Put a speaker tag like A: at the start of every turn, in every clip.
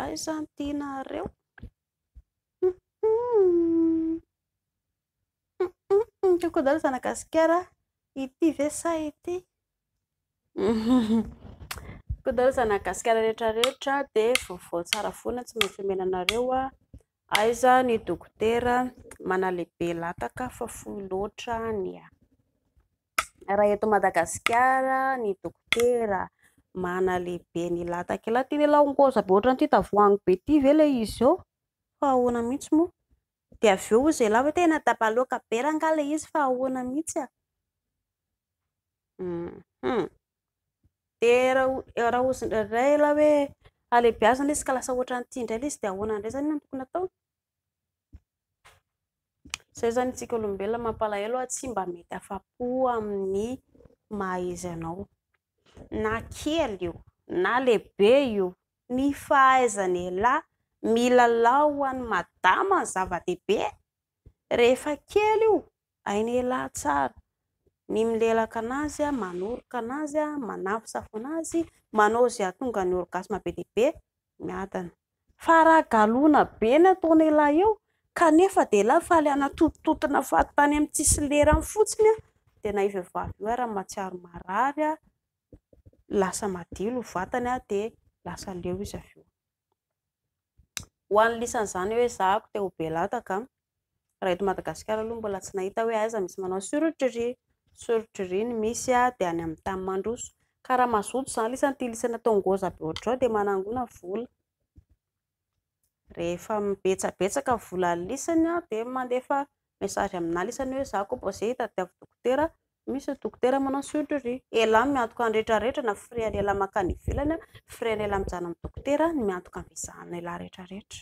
A: Aiza ny tianareo? Coucou daholo zanaka gasikara, ity ve sa ity? Coucou daholo zanaka gasikara rehetra rehetra dia vaovao tsara foana tsy maintsy omena anareo a, aiza ny dokotera manalehibe lataka fa fohy loatra ny ahy. Raha eto Madagasikara ny dokotera manalehibe ny latak'i lahy tena ilay aongoza be ohatran'ity tavoahangy be ity ve ilay izy eo fa ahoana mihitsy moa? Dia avy eo hozy ialahy hoe tena dabaloaka be rangaha ilay izy fa ahoana mihitsy a? Dia raha hozy indraindray ialahy hoe halehibiazina izy ka lasa ohatran'ity indray ilay izy dia ahoana indray izany no tokony hatao? Izay izany isika olombelona mampalahelo fa tsy mba mety afa-po amin'ny maha izy anao. Na kely io na lehibe io, ny fahaizan'ialahy milalao ho an'i madama no zava-dehibe e! Rehefa kely io Hainy elah tsara ny milelaka anazy, manoroka anazy, manafosafona azy, manao izay hahatonga ny orgasme be dia be miadana. Fa raha galona be ny ataon' elah eo kanefa dia elah faly hanatontotona fahatany amin'ny tsisy lerany fotsiny dia na io vehivavy io ary mahatsiaro marary, lasa madio ny vatany dia lasa leo izy avy eo. Ho an'ny lisany izany hoe ezahako dia ho be lataka. Raha eto Madagasikara aloha mbola tsy nahita hoe aiza misy manao surgery. Surgery ny misy dia any amin'ny tany mandroso. Ka raha mazoto izany lisany ity lisany atao ngôza be hoatr'izao dia manangona vola. Rehefa betsabetsaka ny volan'ny lisany dia mandefa message aminah lesy anie hoe za ko mbo ze hitadiavo dokotera misy ny dokotera manao surgerie elah miantoka ny rehetra rehetra na frais any elah makany ivelany an frais any elah mijanona amin'ny dokotera ny miantoka ny visa any elah rehetra rehetra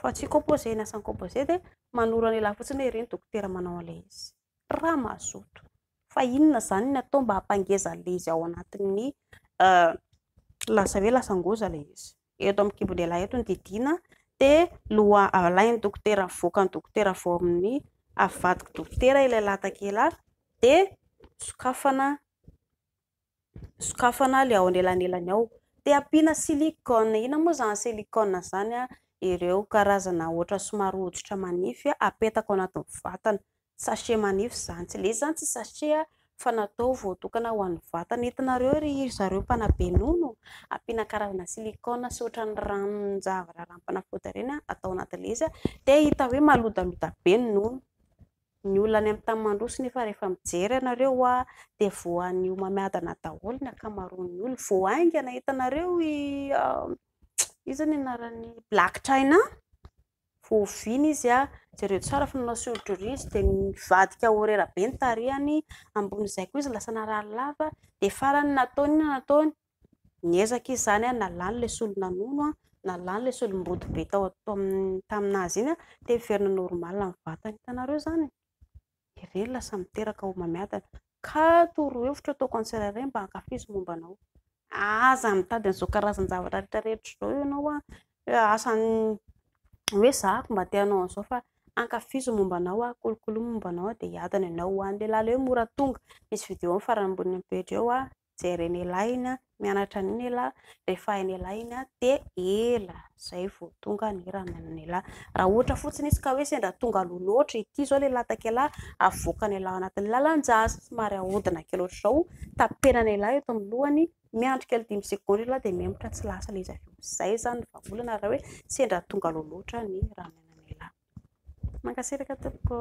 A: fa tsy composé ny asan'ny composé dia manoro any elah fotsiny hoe iry ny dokotera manao an'ilay izy raha mazoto fa inona izany ny atao mba hampangeza an'ilay izy ao anatin'ny lasa hoe lasan-goza ilay izy. Eto amin'ny kibon-dehilahy eto ny didiana dia loha alain'ny dokotera, avoakan'ny dokotera avy ao amin'ny, avadik'i dokotera ilay latak'ila dia sokafana. sokafana ilay ao anelanelany ao dia ampiana silicone, inona moa izany silicone izany an? ireo karazana ohatra somary hoditra manify apetaka ao anatin'ny vatana, sachet manify izany, tsy ilay izy izany tsy sachet fa natao voatokana ho an'ny vatana, hitanareo ry zareo mpanabe nono ampiana karazana silicone sy ohatran'ny ranon-javatra ranom-panafody ireny atao anatin'ilay izy dia hita hoe malodaloda be ny nono. Ny olona any amin'ny tany mandroso nefa rehefa mijery ianareo dia voan'ny homamiadana daholo ny ankamaroan'ny olona. Vao haingana hitanareo i iza ny anaran'i black china? Vao oviana izy jereo tsara fa nanao soron-doria izy dia nivadika horera be ny tarehiny, ambonin'izay koa izy lasa narary lava dia farany nataony inona no nataony? Niezaka izy izany an, nalany ilay solon'anono an, nalany ilay solom-body be tao amin'ny tamin'azy iny an, dia heverina normal ny vatany. Hitanareo izany e? Ireny lasa miteraka homamiadana. Ka torohevitro ataoko ho an'ny tsirairay mba hankafizo ny momba anao. Aza mitady an'izao karazan-javatra rehetra rehetra izao ianao an, hoe asa ny, hoe izaho aky mba te hanao an'izao fa hankafizo ny momba anao aho, kolokolo ny momba anao dia hiadana ianao ho any. Ilay lalao hoe mora tonga, misy vidéo amin'ny farany ambony pejy eo an. jerena ela iny an, mianatra an'iny ela, refahina ela iny an, dia ela izay vao tonga ny ramanana ela. Raha ohatra fotsiny izy ka hoe sendra tonga aloha loatra ity izao ilay latsaka ela, avoakany ela ao anatin'ny lalan-jaza, somary ahodina kely ohatr'izao, tapenana ela eto amin'ny lohany, miandry kely dimy segondra ela dia mihemotra tsy lasa ilay izy avy eo. Izay izany ny vahaolana raha hoe sendra tonga aloha loatra ny ramanana ela. Mankasitraka tompoko.